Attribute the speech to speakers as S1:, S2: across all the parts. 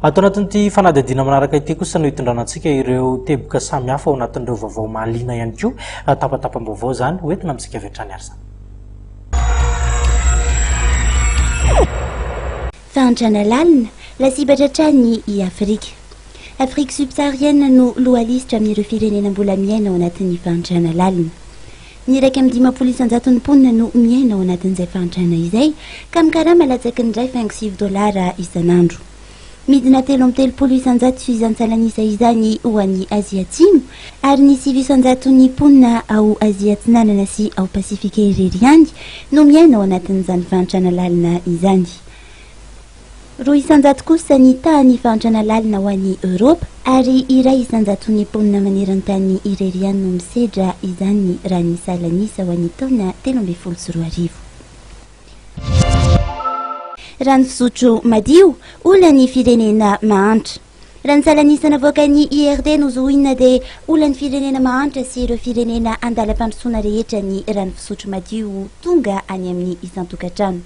S1: Ato anatin'ity fanadihadiana manaraka ity kosa no hitondrana antsika ireo teboka samy hafa ao anatin'ireo vaovao mahaliana ihany koa, tapatapam-baovao izany, ho entina amintsika avy hatrany ary izany.
S2: Fahantrana lalina, lasibatra hatrany i Afrika. Afrique subsaharienne no lohalisitra amin'ireo firenena mbola miaina ao anatin'ny fahantrana lalina. Ny iraika amby dimampolo isan-jaton'ny mponina no miaina ao anatin'izay fahantrana izay, ka mikarama latsaky ny iray faingo sivy dolara isan'andro. Midina telo amby telopolo isan-jato sy isan-tsalan'isa izany ho an'i Azia Atsimo, ary ny sivy isan-jaton'ny mponina ao Azia Atsinanana sy ao Pasifika irery ihany no miaina ao anatin'izany fahantrana lalina izany. Roa isan-jato kosa ny tahan'ny fahantrana lalina ho an'i Eoropa, ary iray isan-jaton'ny mponina maneran-tany irery ihany no misedra izany raha ny salan'isa ho an'ny taona telo ambin'ny folo sy roa arivo. Rano fisotro madio, olan'ny firenena mahantra. Raha ny salan'isa navoakan'ny IRD nozohina dia olan'ny firenena mahantra sy ireo firenena andalam-pandrosoana rehetra ny rano fisotro madio tonga any amin'ny isan-tokantrano.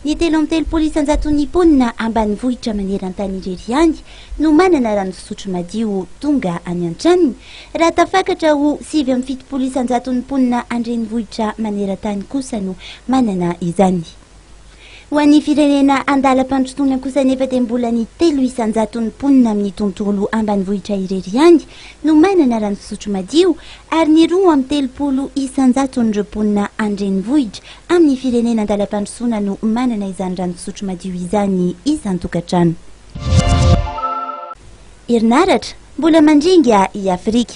S2: Ny telo amby telopolo isan-jaton'ny mponina ambanivohitra maneran-tany irery ihany no manana rano fisotro madio tonga any an-tranony, raha tafakatra ho sivy amby fitopolo isan-jaton'ny mponina an-drenivohitra maneran-tany kosa no manana izany. Ho an'ny firenena andalam-pandrosoana kosa anefa dia mbola ny telo isan-jaton'ny mponina amin'ny tontolo ambanivohitra irery ihany no manana rano fisotro madio ary ny roa amby telopolo isan-jaton'ireo mponina an-drenivohitra amin'ny firenena andalam-pandrosoana no manana izany rano fisotro madio izany isan-tokantrano. Herinaratra, mbola mandringa i Afrika.